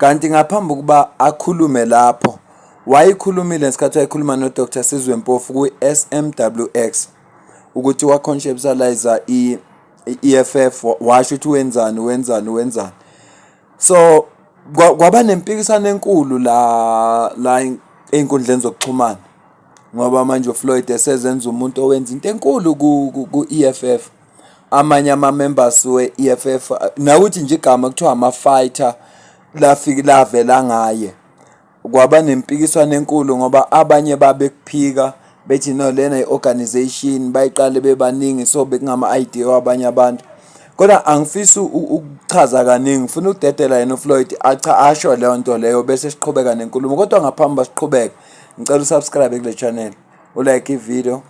Kanti ngaphambi ukuba akhulume lapho wayikhulumile ngesikhathi wayikhuluma noDr Sizwe Mpofu kwi-SMWX ukuthi waconceptualiza i-EFF washo ukuthi wenzani wenzani wenzani so kwaba nempikisano enkulu la la einkundleni zokuxhumana ngoba manje uFloyd esezenza umuntu owenza into enkulu ku-EFF amanye ama-members we-EFF nawuthi nje igama kuthiwa ama-fighter lafike lavela ngaye kwaba nempikiswano enkulu ngoba abanye babekuphika bethi no lena i-organization bayiqale bebaningi so bekungama-idea wabanye abantu kodwa angifisi ukuchaza kaningi ngifuna ukudedela yena ufloyd acha asho leyo nto leyo bese siqhubeka nenkulumo kodwa ngaphambi basiqhubeke ngicela usubscribe kule channel ulike ividiyo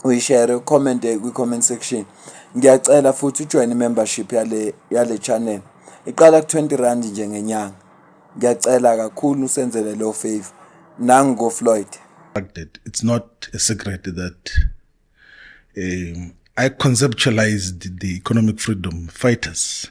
uyishere ucommente kwi-comment section ngiyacela futhi ujoyine i-membership yale yale channel iqala ku-20 rand nje ngenyanga ngiyacela kakhulu usenzele leyo favor nangikofloyd it's not a secret that um, i conceptualized the economic freedom fighters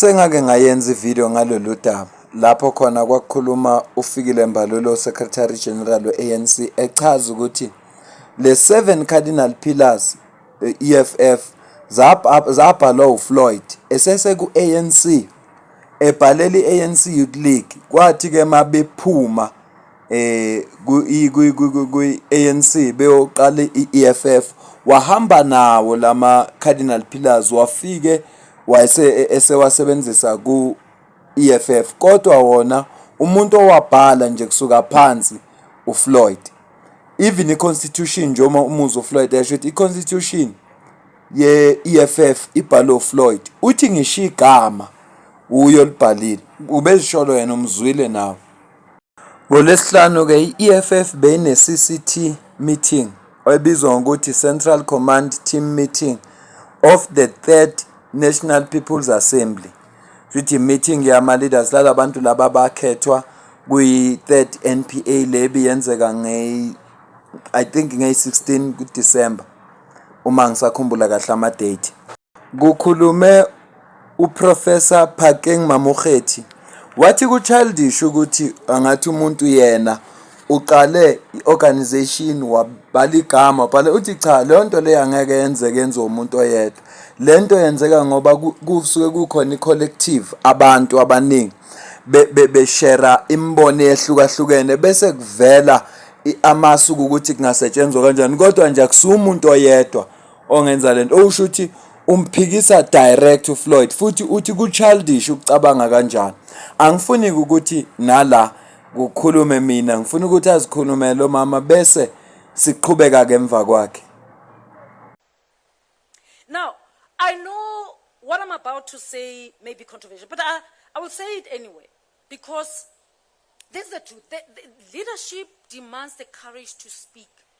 Sengake ngayenza ividiyo ngalolu daba lapho khona kwakukhuluma uFikile Mbalula uSecretary General we-ANC echaza ukuthi le seven cardinal pillars EFF zabhalwa uFloyd eseseku-ANC ebhalela i-ANC Youth League kwathi-ke uma bephuma kwi-ANC beyoqala i-EFF wahamba nawo lama Cardinal Pillars wafike wayese esewasebenzisa ku EFF kodwa wona umuntu owabhala nje kusuka phansi uFloyd even i-constitution njengoba umuzi uFloyd yasho ukuthi i-constitution ye-EFF ibhalwe uFloyd uthi ngisho igama uyo libhalile ubezisholo yena umzwile nawe NgoLwesihlanu-ke i-EFF beyineCCT Meeting, ebizwa ngokuthi Central Command Team Meeting of the Third National People's Assembly. Shuthi i-meeting yama-leaders lala bantu laba abakhethwa kwi-third NPA le ebiyenzeka ngeyi I think ngeyi-16 kuDisemba uma ngisakhumbula kahle ama-date. Kukhulume uProfessor Phakeng Mamokgethi wathi kuchildish ukuthi angathi umuntu yena uqale i-organization wabhala igama wabhala uthi cha leyo nto leyo angeke yenzeke yenziwe umuntu oyedwa le nto yenzeka ngoba kusuke kukhona i-collective abantu abaningi beshera imibono eyehlukahlukene bese kuvela amasu ukuthi kungasetshenzwa kanjani kodwa nje akusuye umuntu oyedwa ongenza lento usho ukuthi umphikisa direct uFloyd futhi uthi kuchildish ukucabanga kanjani angifuni ukuthi nala kukhulume mina ngifuna ukuthi azikhulume lo mama bese siqhubeka ke emva kwakhe now i know what i'm about to say may be controversial but i, I will say it anyway because this is the truth the, the leadership demands the courage to speak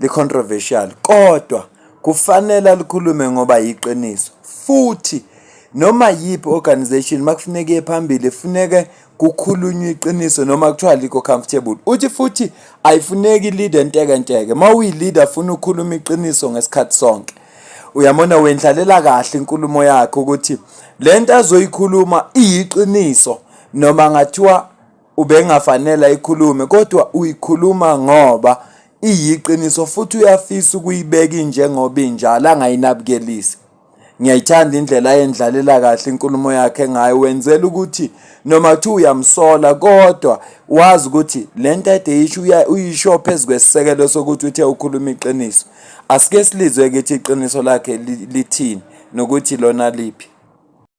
licontroversial kodwa kufanele alikhulume ngoba yiqiniso futhi noma yiphi organization makufuneka iye phambili funeke kukhulunywa iqiniso noma kuthiwa likho comfortable uthi futhi ayifuneki leader nteke nteke uma uyileader funa ukukhuluma iqiniso ngesikhathi sonke uyamona wendlalela kahle inkulumo yakhe ukuthi lento azoyikhuluma iyiqiniso noma ngathiwa ubengafanele ayikhulume kodwa uyikhuluma ngoba iyiqiniso futhi uyafisa ukuyibeka injengoba injalo angayinabukelisi ngiyayithanda indlela ayendlalela kahle inkulumo yakhe ngayo wenzela ukuthi noma kuthiwa uyamsola kodwa wazi ukuthi le nto ade yisho uyisho phezu kwesisekelo sokuthi uthe ukhuluma iqiniso asike silizwe ukuthi iqiniso lakhe lithini nokuthi lona liphi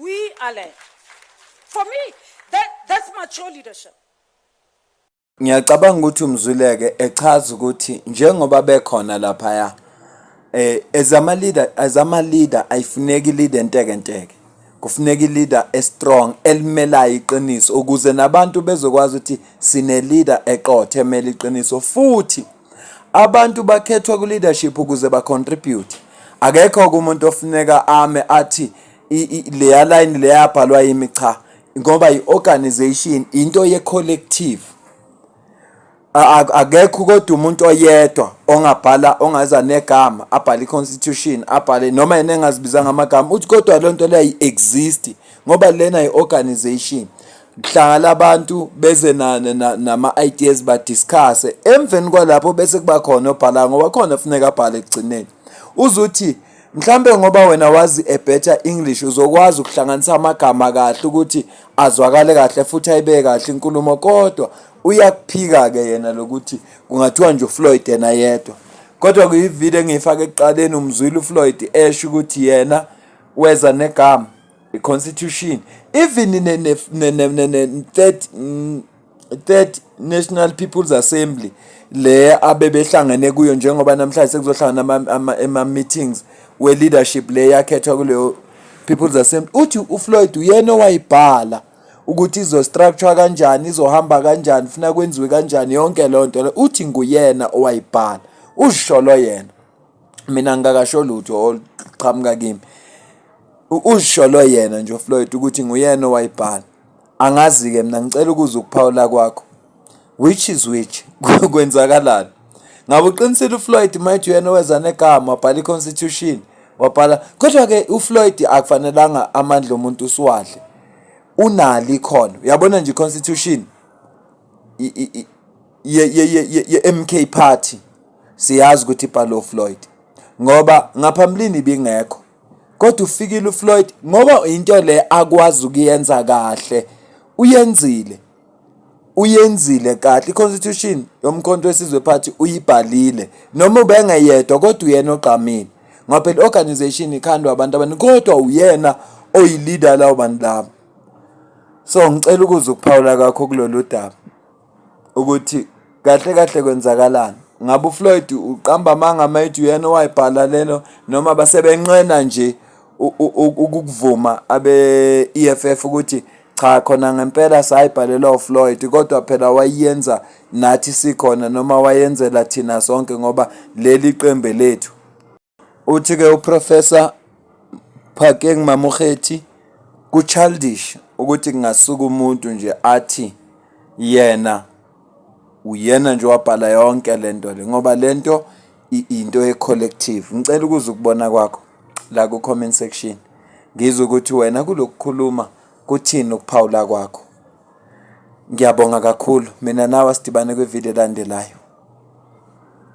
We are led. For me, that, that's mature leadership. Ngiyacabanga ukuthi umzwileke echaza ukuthi njengoba bekhona laphaya eh as ama leader as ama leader ayifuneki leader enteke nteke kufuneka leader e strong elimelayo iqiniso ukuze nabantu bezokwazi ukuthi sine leader eqothe emele iqiniso futhi Abantu bakhethwa ku-leadership ukuze ba-contribute. Akekho-ke umuntu ofuneka ame athi leya layini leyabhalwa yimi cha ngoba i-organization into ye-collective. Akekho kodwa umuntu oyedwa ongabhala ongaza negama abhale i-constitution abhale noma yena engazibizanga amagama uthi kodwa loo nto leyo ayi-exist ngoba lena yi-organization. kuhlangana abantu beze nama-ideas badiscusse emveni kwalapho bese kuba khona obhala ngoba khona kufuneka abhale ekugcineni uze uthi mhlambe ngoba wena wazi a better english uzokwazi ukuhlanganisa amagama kahle ukuthi azwakale kahle futhi ayibeke kahle inkulumo kodwa uyakuphika-ke yena lokuthi kungathiwa nje ufloyd yena yedwa kodwa kuyividiyo engiyifake ekuqaleni umzwile ufloyd esho ukuthi yena weza negama constitution even in the third mm, third national people's assembly le abebehlangene kuyo njengoba namhlanje sekuzohlangana ama-meetings we-leadership le yakhethwa kuleyo people's assembly uthi ufloyd uyena owayibhala ukuthi izostructure kanjani izohamba kanjani funa kwenziwe kanjani yonke loo nto uthi nguyena owayibhala uzisholo yena mina ngingakasho lutho oluqhamuka kimi uzisholo yena nje uFloyd ukuthi nguyena owayibhala angazi-ke mina ngicela ukuza ukuphawula kwakho which is which kwenzakalani ngabe uqinisile uFloyd mayithi uyena oweza negama wabhala i-constitution wabhala kodwa-ke uFloyd akufanelanga amandla omuntu usiwadle unalo ikhono uyabona nje i-constitution ye-MK party siyazi ukuthi ibhalwe uFloyd ngoba ngaphambilini ibingekho kodwa ufikile uFloyd ngoba into le akwazi ukuyenza kahle uyenzile uyenzile kahle i-constitution yomkhonto wesizwe party uyibhalile noma ubengeyedwa kodwa uyena ogqamile ngoba phela i-organization ikhandwa abantu abaningi kodwa uyena oyi-leader lawo bantu labo So ngicela ukuza ukuphawula kwakho kulolu daba ukuthi kahle kahle kwenzakalani. Ngabe uFloyd uqamba amanga uma ethi uyena owayibhala lelo noma basebenqena nje ukukuvuma abe-EFF ukuthi cha khona ngempela sayibhalelwa uFloyd kodwa phela wayenza nathi sikhona noma wayenzela thina sonke ngoba leli qembe lethu. Uthi-ke uProfessor Phakeng Mamokgethi ku-childish ukuthi kungasuka umuntu nje athi yena uyena nje wabhala yonke le nto le ngoba le nto into ye-collective ngicela ukuza ukubona kwakho la ku-comment section ngizwe ukuthi wena kulokukhuluma kuthini ukuphawula kwakho ngiyabonga kakhulu mina nawe asidibane kwividiyo elandelayo